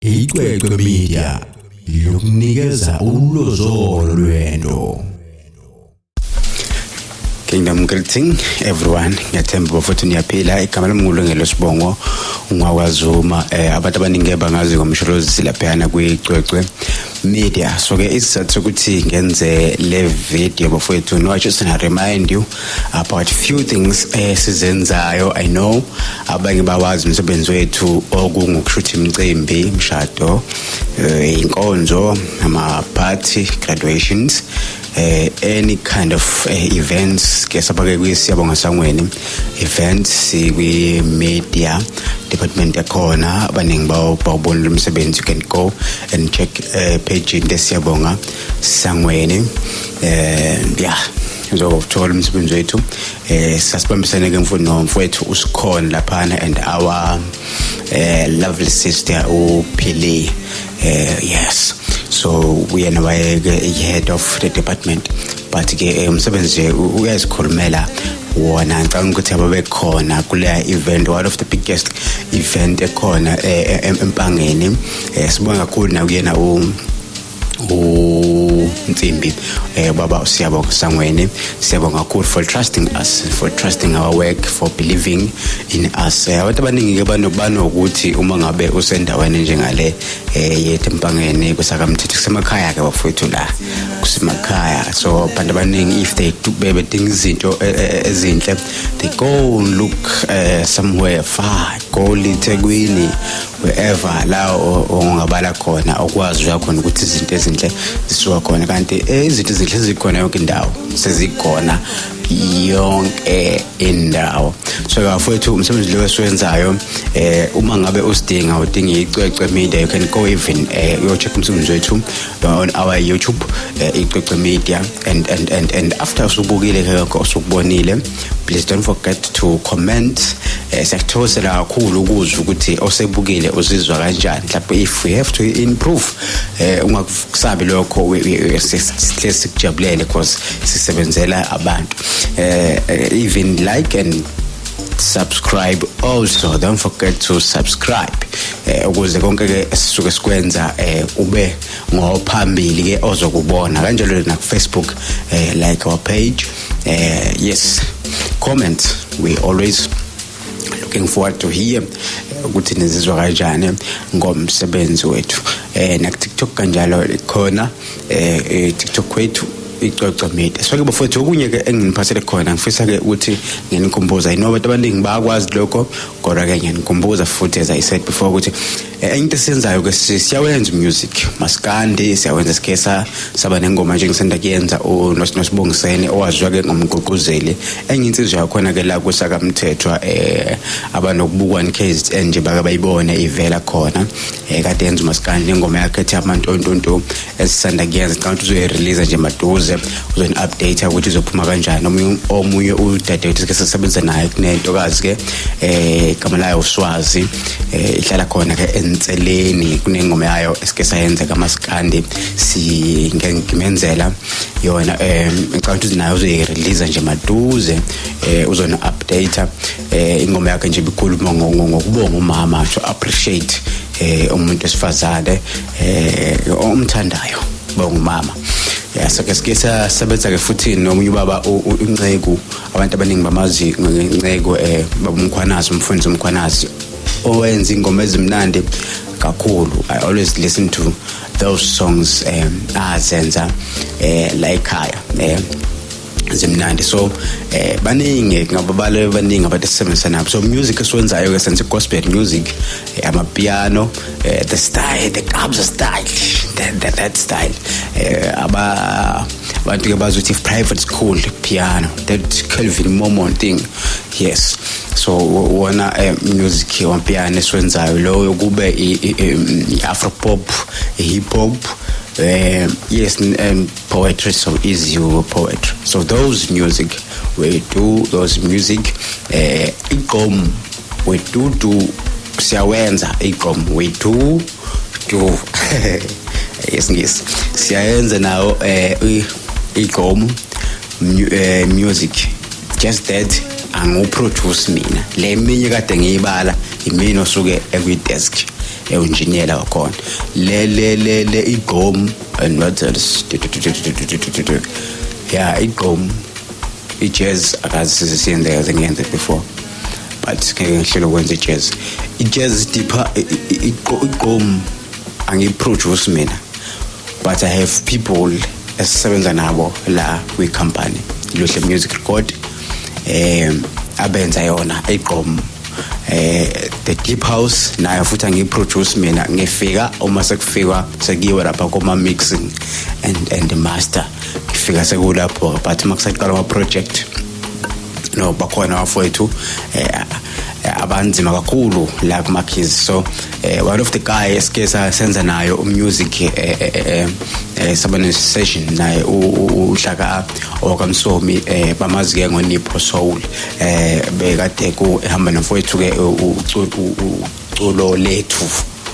Icwecwe Media yokunikeza ulozolo lwento. Kingdom greeting everyone ngiyathemba bafuthu niyaphila igama lami ngulungelo sibongo ungwakwazuma eh abantu abaningi bangazi ngomsholozi silaphana kwicwecwe media so ke isizathu ukuthi ngenze le video bafowethu no i just want to remind you about few things esizenzayo eh, i know abanye bawazi umsebenzi wethu okungukushutha imicimbi imshado eh, inkonzo ama-party graduations eh, any kind of eh, events ke sabake kwisiyabonga sangweni events sikwi-media department yakhona abaningi bawubonile umsebenzi you can go and check eh, page into esiyabonga sangweni eh, yeah njengoba uthola umsebenzi wethu eh sasibambisene ke mfowethu nomfowethu usikhona laphana and our eh lovely sister uphili eh yes so uyena wayeke head of the department but ke eh, umsebenzi nje uyazikhulumela wona ngicabanga ukuthi ababekhona kuleya event one of the biggest event ekhona eh, eh, empangeni sibonga kakhulu nakuyena u Oh, Nsimbi, eh, Baba Siyabonga Sangweni, Siyabonga kakhulu for trusting us, for trusting our work, for believing in us. Eh, abantu abaningi ke banokuthi uma ngabe usendaweni njengale eh yethu empangeni kusakamthetho kusemakhaya ke bafowethu la. Kusemakhaya. So abantu abaningi if they do bedinga izinto eh, eh, eh, ezinhle, they go look uh, somewhere far, go eThekwini wherever la ongabala khona okwazi uya khona ukuthi izinto ezinhle zisuka khona kanti eh, izinto ezinhle zikhona yonke indawo sezikhona yonke indawo so bafowethu umsebenzi lo esiwenzayo eh uma ngabe usidinga udinga icwecwe media you can go even eh uyo check umsebenzi wethu uh, on our youtube eh, icwecwe media and and and and after usubukile ke lokho usukubonile please don't forget to comment eh, siyakuthokozela kakhulu ukuzwa ukuthi osebukile uzizwa kanjani mhlawumbe if we have to improve eh, ungakusabi lokho sihle sikujabulele because sisebenzela abantu eh, eh, even like and subscribe also don't forget to subscribe eh, ukuze konke ke esisuke sikwenza eh, ube ngophambili ke ozokubona kanjalo na Facebook eh, like our page Uh, yes, comments. We always looking forward to hear eh, ukuthi nizizwa kanjani ngomsebenzi wethu eh nakuTikTok kanjalo khona eh, eh TikTok kwethu icoco media so ke bafowethu okunye ke enginiphathele khona ngifisa ke ukuthi nginikhumbuza inoba abantu abaningi bayakwazi lokho kodwa ke ngiyanikhumbuza futhi as i said before ukuthi Eh, into esiyenzayo ke siyawenza umusic masikandi siyawenza sikhesa saba nengoma nje ngisanda kuyenza unosibongisene owaziwa ke ngomgqugquzeli enye insizwa yakhona ke la kusaka mthethwa eh abanokubukwa nkz nje baka bayibone ivela khona eh kade yenza masikandi ingoma yakhe ethi amantontonto esisanda kuyenza ngicabanga ukuthi uzoyirelease nje maduze uzoni-update ukuthi izophuma kanjani omunye udadewethu ke sisebenzisa naye kunentokazi ke eh igama layo uswazi eh ihlala khona ke enseleni kunengoma yayo esike sayenza kamaskandi singimenzela yona eh ngicabanga ukuthi nayo uzoyirelease nje maduze eh uzona-update eh ingoma yakhe nje ibikhuluma ngokubonga umama to appreciate eh umuntu esifazane eh omthandayo bongumama yasake sike sasebenza ke futhi nomunye ubaba unceku abantu abaningi bamazi ngenceku eh babumkhwanazi umfundisi umkhwanazi owenza ingoma ezimnandi kakhulu i always listen to those songs um azenza eh la ekhaya eh zimnandi so eh baningi ngababale baningi abantu esisebenzisa nabo so music esiwenzayo ke senze gospel music eh, ama piano eh, the style the clubs style that, that, that style eh, aba abantu ke bazothi private school piano that Kelvin Mormon thing yes so wona eh, music wa piano esiwenzayo loyo kube i, i, i, i afro pop hip hop eh yes um, poetry so is you poetry so those music we do those music eh igqom we do do siyawenza igqom we do do yesingisi siyayenza nawo eh igqom eh, music just that angiwuproduce mina le minye kade ngiyibala yimini osuke ekwi-desk ewunjiniyela wakhona le le le le igqom and not yeah igqom i-jazz akazi siyenzeka zingenze before but ngeke ngihlele ukwenza i-jazz i-jazz deeper igqom angiyiproduce mina but i have people esisebenza nabo la kwi-company luhle music record eh abenza yona igqom eh the deep house nayo futhi angiyiproduce mina ngifika uma sekufikwa sekiwe lapha kuma mixing and and the master ngifika sekulapho but uma kusaqala ama project no bakhona bafowethu eh eh, abanzima kakhulu la kumakhizi so eh, one of the guy esike senza nayo umusic eh, eh, eh, eh, eh saba ne-session naye uhlaka owakamsomi eh, bamazi-ke ngonipho soul eh, bekade ehamba nomfowethu-ke uculo lethu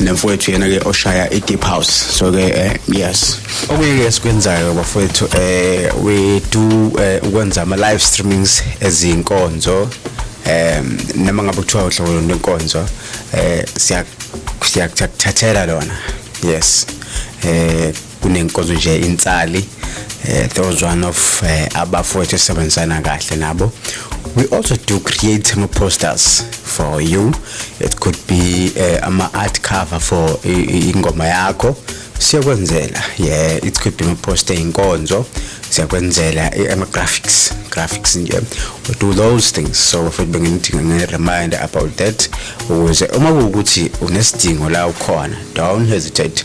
nemfowethu yena ke oshaya i deep house so ke eh, yes okunye ke sikwenzayo bafowethu eh we do eh, ukwenza ama live streamings ezinkonzo um noma ngabe kuthiwa uhlobo lwenkonzo eh siya siyakuthathela lona yes eh kunenkonzo nje insali eh, those one of eh, abafowethu esebenzisana kahle nabo we also do create ama posters for you it could be eh, ama art cover for ingoma yakho siyakwenzela yeah it could be ama poster inkonzo siyakwenzela ama graphics graphics nje we do those things so futhi benginidinga nge reminder about that ukuze uma kuwukuthi unesidingo la ukhona don't hesitate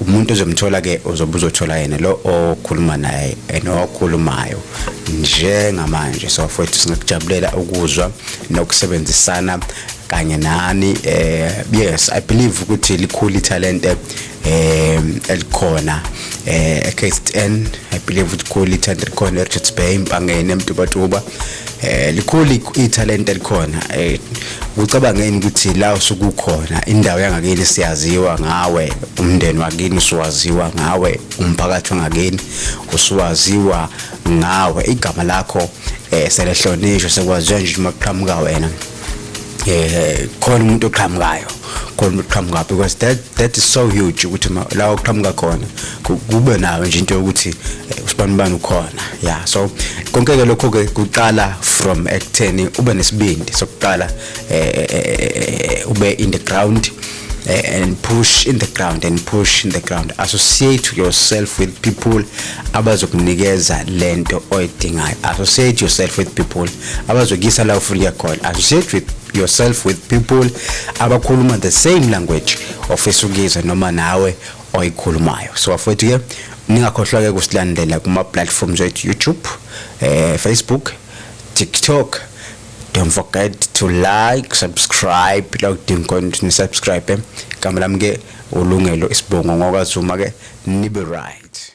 umuntu ozomthola ke uzobe uzothola yena lo okhuluma naye nokhulumayo njengamanje so futhi singakujabulela ukuzwa nokusebenzisana kanye nani eh yes i believe ukuthi likhulu italent eh elikhona eh KZN i believe ukuthi likhulu italent elikhona eRichards Bay impangeni emtubatuba eh likhulu ithalente likhona eh ucabangeni ukuthi la usukukhona indawo yangakini siyaziwa ngawe umndeni wakini usuwaziwa ngawe umphakathi wangakini usuwaziwa ngawe igama lakho eh selehlonishwa sekwaziwa nje uma kuqhamuka wena eh khona umuntu oqhamukayo khona umuntu oqhamuka because that that is so huge ukuthi la oqhamuka khona kube nayo nje into yokuthi eh, usibani bani ukhona yeah so konke ke lokho ke kuqala from ekutheni ube nesibindi sokuqala eh, eh, eh ube in the ground eh, and push in the ground and push in the ground associate yourself with people abazokunikeza lento oyidingayo associate yourself with people abazokuyisa la ufuna uya khona associate with yourself with people abakhuluma the same language ofisa ukuyizwa noma nawe oyikhulumayo so bafowethu ke ningakhohlwa ke kusilandela kuma platforms ethu YouTube eh Facebook TikTok don't forget to like subscribe la udinga khona ukuthi nisubscribe igama lami ke ulungelo isibongo ngokwazuma ke nibe right